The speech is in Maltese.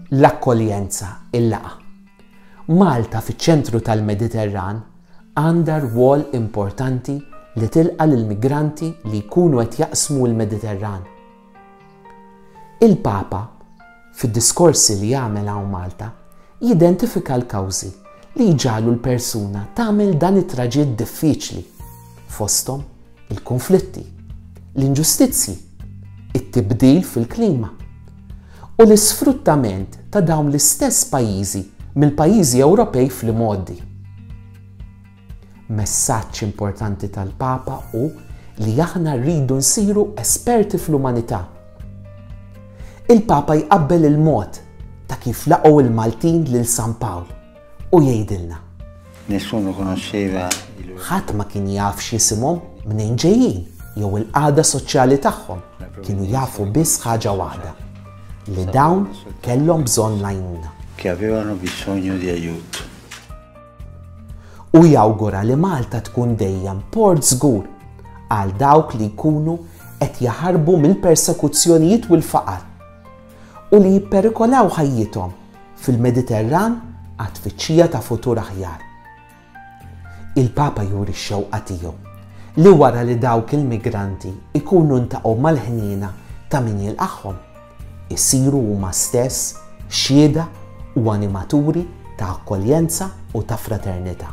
L-akkoljenza, il-laqa. Malta fiċ-ċentru tal-Mediterran għandha rwol importanti li tilqa lill-migranti li jkunu qed jaqsmu l-Mediterran. Il-Papa, fid-diskorsi li jagħmel hawn Malta, jidentifika l-kawżi li jġalu l-persuna tagħmel dan it-traġitt diffiċli fosthom il-kunflitti, l-inġustizzji, it-tibdil fil-klima u l-isfruttament ta' dawn l-istess pajjiżi mill-pajjiżi Ewropej fl-imgħoddi. Messaġġ importanti tal-Papa hu li aħna rridu nsiru esperti fl-umanità. Il-Papa jqabbel il-mod ta' kif laqgħu l-Maltin lil San Pawl. u jgħidilna. Nessuno conosceva il loro. Ħadd ma kien jaf x'jisimhom, mnejn ġejjin, jew il-qagħda soċjali tagħhom. Kienu jafu biss ħaġa waħda, li dawn kellhom bżonn l-għajnuna. Che avevano bisogno di aiuto. U jawgura li Malta tkun dejjem port żgur għal dawk li jkunu qed jaħarbu mill-persekuzzjonijiet u l-faqar. u li jipperikolaw ħajjithom fil-Mediterran għat-tfittxija ta' futur aħjar. Il-Papa juri x-xewqa tiegħu li wara li dawk il-migranti jkunu ltaqgħu mal-ħniena ta' min jilqagħhom, isiru huma stess xhieda u animaturi ta' akkoljenza u ta' fraternità.